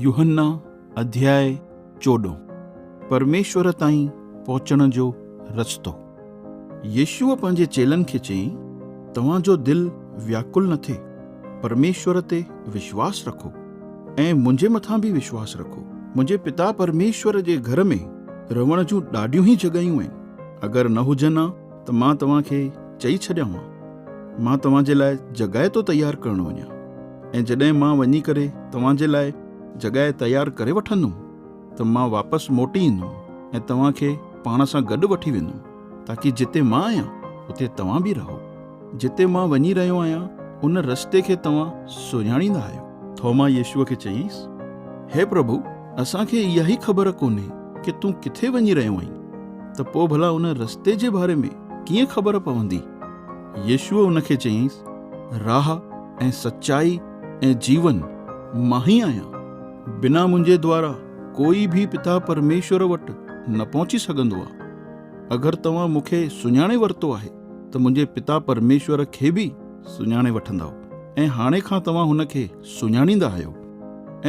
يوحنا اڌياء چوڏهن پرميشور تائين پهچڻ جو رستو. يسوع پنهنجي چيلن کي چيائين، توهان جو دل وياڪل نه ٿئي، پرميشور تي وشواس رکو ۽ منهنجي مٿان به وشواس رکو. منهنجي پتا پرميشور جي گهر ۾ رهڻ جون ڏاڍيون ئي جڳهيون آهن، اگر نه هجن ها ته مان توهان کي چئي ڇڏيان ها مان توهان جي لاء جڳهه ٿو تيار ڪرڻ وڃان ۽ جڏهن مان وڃي ڪري توهان جي لاء جڳهه تيار ڪري وٺندم ته مان واپس موٽي ايندم ۽ توهان کي پاڻ سان گڏ وٺي ويندم تاڪي جتي مان آهيان اتي توهان به رهو. جتي مان وڃي رهيو آهيان، ان رستي کي توهان سڃاڻيندا آهيو؟ ٿوما يسوع کي چيائينس، هي پرڀو، اسان کي اها ئي خبر ڪونهي ڪي تون ڪٿي وڃي رهيو آهين، ته پوء ڀلا ان رستي جي باري ۾ ڪيئن خبر پوندي؟ يسوع ان کي چيائينس، راهه ۽ سچائي ۽ جيون مان ئي آهيان. بنا منهنجي دوارا ڪوئي به پتا پرميشور وٽ نه پهچي سگهندو آهي. اگر توهان مون کي سڃاڻي ورتو آهي، ته منهنجي پتا پرميشور کي به سڃاڻي وٺندؤ ۽ هاڻي کان توهان هن کي سڃاڻيندا آهيو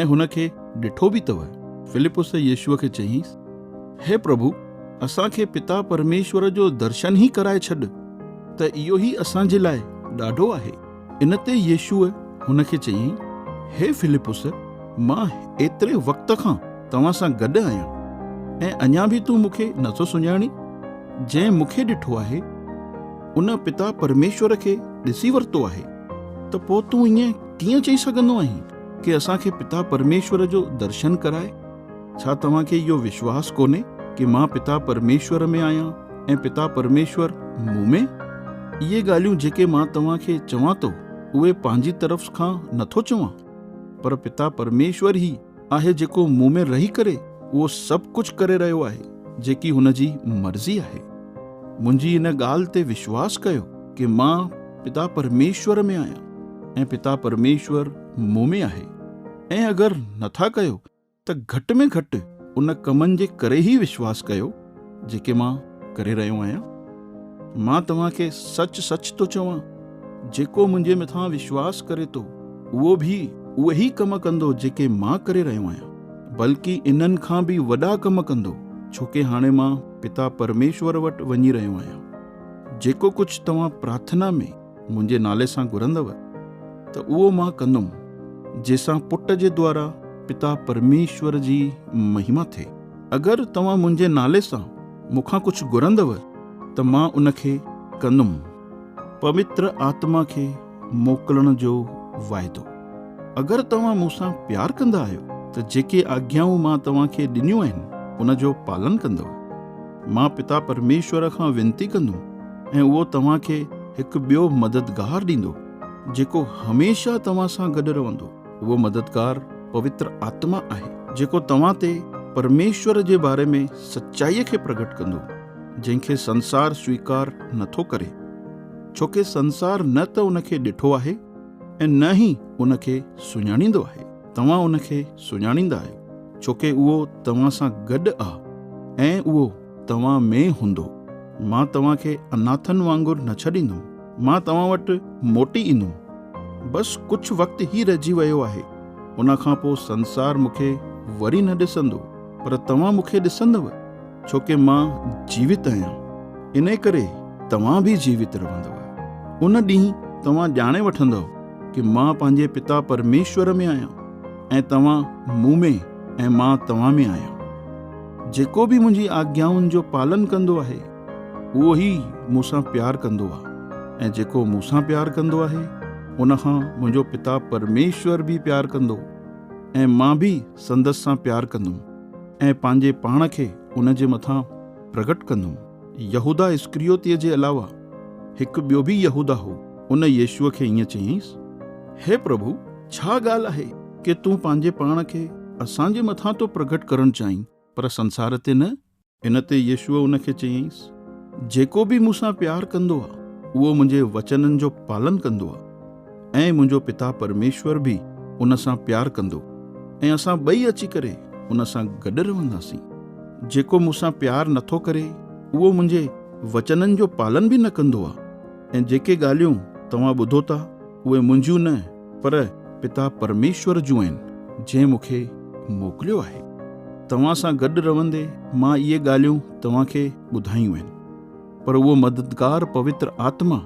۽ هن کي ڏٺو به اٿو. فلپس يسوع کي چيائينس، هي پرڀو، اسان کي پتا پرميشور جو درشن ئي ڪرائي ڇڏ ته اهو ئي اسان جي لاء ڏاڍو آهي. ان تي يسوع هن کي چيائين، هي فلپس، مان ايتري وقت کان توهان سان گڏ آهيان، ۽ اڃا به تون مون کي نٿو سڃاڻين؟ جنهن مون کي ڏٺو آهي، ان پتا پرميشور کي ڏسي ورتو آهي، ته پوء تون ائين ڪيئن چئي سگهندو آهين، ڪي اسان کي پتا پرميشور جو درشن ڪرائي؟ ڇا توهان کي اهو وشواس ڪونهي ڪي مان پتا پرميشور ۾ آهيان ۽ پتا پرميشور مون ۾؟ اهي ڳالهيون جيڪي مان توهان کي چوان ٿو اهي پنهنجي طرف کان نه ٿو چوان، پر پتا پرميشور هي آهي جيڪو مون ۾ رهي ڪري اهو سڀ ڪجهه ڪري رهيو آهي جيڪي هن جي مرضي آهي. منهنجي ان ڳالهه تي وشواس ڪيو ڪي مان پتا پرميشور ۾ آهيان ۽ پتا پرميشور مون ۾ آهي ۽ اگر نه ٿا ڪيو ته گهٽ ۾ گهٽ ان ڪمن جي ڪري هي وشواس ڪيو جيڪي مان ڪري رهيو آهيان. مان توهان کي سچ سچ ٿو چوان جيڪو منهنجي مٿان وشواس ڪري ٿو اهو به اهي ئي ڪم ڪندو جيڪي مان ڪري رهيو آهيان بلڪ انهن کان به وڏا ڪم ڪندو ڇوڪه هاڻي مان پتا پرميشور وٽ وڃي رهيو آهيان جيڪو ڪجهه توهان پرارٿنا ۾ منهنجي نالي سان گهرندؤ ته اهو مان ڪندم جنهن سان پٽ جي دوارا پتا پرميشور جي مهما ٿئي. اگر توهان منهنجي نالي سان مون کان ڪجهه گهرندؤ ته مان ان کي ڪندم. پوتر آتما کي موڪلڻ جو واعدو. اگر توهان مون سان پيار ڪندا آهيو ته جيڪي آگيائون مان توهان کي ڏنيون آهن ان جو پالن ڪندؤ. مان پتا پرميشور کان وينتي ڪندم ۽ اهو توهان کي هڪ ٻيو مددگار ڏيندو، جيڪو هميشه توهان سان گڏ رهندو. اهو مددگار پوتر آتما آهي، جيڪو توهان تي پرميشور جي باري ۾ سچائيء کي پرگهٽ ڪندو، جنهن کي سنسار سويڪار نه ٿو ڪري، ڇو ڪي سنسار نه ته ان کي ڏٺو آهي ۽ نه ئي ان کي سڃاڻيندو آهي. توهان ان کي سڃاڻيندا آهيو، ڇو ڪي اهو توهان سان گڏ آ ۽ اهو توهان ۾ هوندو. مان توهان کي اناٿن وانگر نه ڇڏيندم. مان توهان وٽ موٽي ايندم. بس ڪجهه وقت ئي رهجي ويو آهي. ان کان پوء سنسار مون کي وري نه ڏسندو. پر توهان مون کي ڏسندؤ، ڇو ڪي مان جيوت آهيان. انهيء ڪري توهان به جيوت رهندؤ. ان ڏينهن توهان ڄاڻي وٺندؤ ڪي مان پنهنجي پتا پرميشور ۾ آهيان ۽ توهان مون ۾ ۽ مان توهان ۾ آهيان. جيڪو به منهنجي آگيائن جو پالن ڪندو آهي، اهو ئي مون سان پيار ڪندو آهي، ۽ جيڪو مون سان پيار ڪندو آهي، ان کان منهنجو پتا پرميشور به پيار ڪندو، ۽ مان به سندس سان پيار ڪندم، ۽ پنهنجي پاڻ کي ان جي مٿان پرگٽ ڪندم. يهوداه اسڪريوتيء جي علاوه هڪ ٻيو به يهوداه هو. ان يسوع کي ائين چيائينس، هي پرڀو، ڇا ڳالهه آهي ڪي تون پنهنجي پاڻ کي اسان جي مٿان ٿو پرگهٽ ڪرڻ چاهين، پر سنسار تي نه؟ ان تي يسوع ان کي چيائينس، جيڪو به مون سان پيار ڪندو آهي، اهو منهنجي وچنن جو پالن ڪندو آهي. ۽ منهنجو پتا پرميشور به ان سان پيار ڪندو، ۽ اسان ٻئي اچي ڪري ان سان گڏ رهنداسين. جيڪو مون سان پيار نه ٿو ڪري، اهو منهنجي وچنن جو پالن به نه ڪندو آهي، ۽ جيڪي ڳالهيون توهان ٻڌو ٿا، اهي منهنجيون نه، پر پتا پرميشور جون آهن، جنهن مون کي موڪليو آهي. توهان سان گڏ رهندي مان اهي ڳالهيون توهان کي ٻڌايون آهن. پر اهو مددگار پوتر آتما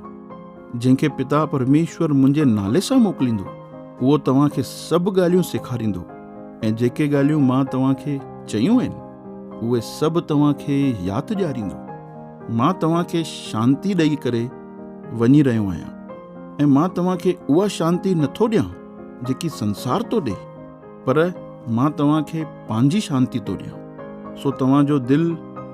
جنهن کي پتا پرميشور منهنجي نالي سان موڪليندو اهو توهان کي سڀ ڳالهيون سيکاريندو ۽ جيڪي ڳالهيون مان توهان کي چيون آهن اهي سڀ توهان کي ياد ڏياريندو مان توهان کي شانتي ڏئي ڪري وڃي رهيو آهيان ۽ مان توهان کي اها شانتي نٿو ڏيان جيڪي سنسار ٿو ڏي پر مان توهان کي پنهنجي شانتي ٿو ڏيان، سو توهان جو دل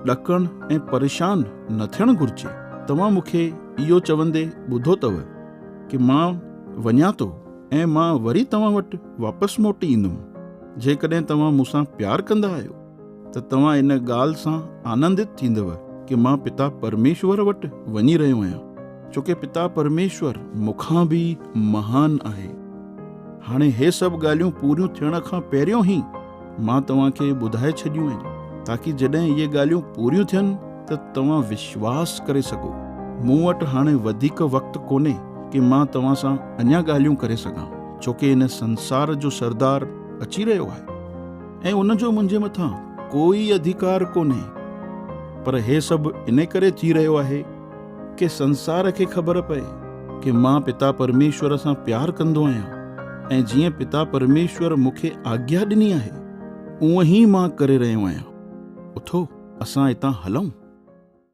ڏڪڻ ۽ پريشان نه ٿيڻ گهرجي. توهان مون کي اهو چوندي ٻڌو اٿو ڪي مان وڃان ٿو ۽ مان وري توهان وٽ واپس موٽي ايندم، جيڪڏهن توهان مون سان پيار ڪندا آهيو. ته توهان ان ڳالهه سان آنندت ٿيندؤ ڪي مان پتا پرميشور وٽ وڃي رهيو آهيان، ڇو ڪي پتا پرميشور مون کان به مهان آهي. هاڻي هي سڀ ڳالهيون پوريون ٿيڻ کان پهريون ئي مان توهان کي ٻڌائي ڇڏيون آهن، تاڪي جڏهن اهي ڳالهيون پوريون ٿين ته توهان وشواس ڪري سگهو. مون وٽ هاڻي وڌيڪ وقت ڪونهي ڪي مان توهان سان اڃا ڳالهيون ڪري سگهان، ڇو ڪي هن سنسار جو سردار اچي رهيو آهي. ۽ ان جو منهنجي مٿان ڪوئي اڌيڪار ڪونهي، پر هي سڀ ان ڪري ٿي رهيو آهي ڪي سنسار کي خبر پئي ڪي مان پتا پرميشور سان پيار ڪندو آهيان ۽ جيئن پتا پرميشور مون کي آگيا ڏني آهي اونهي مان ڪري رهيو آهيان اٿو اسان هتان هلون.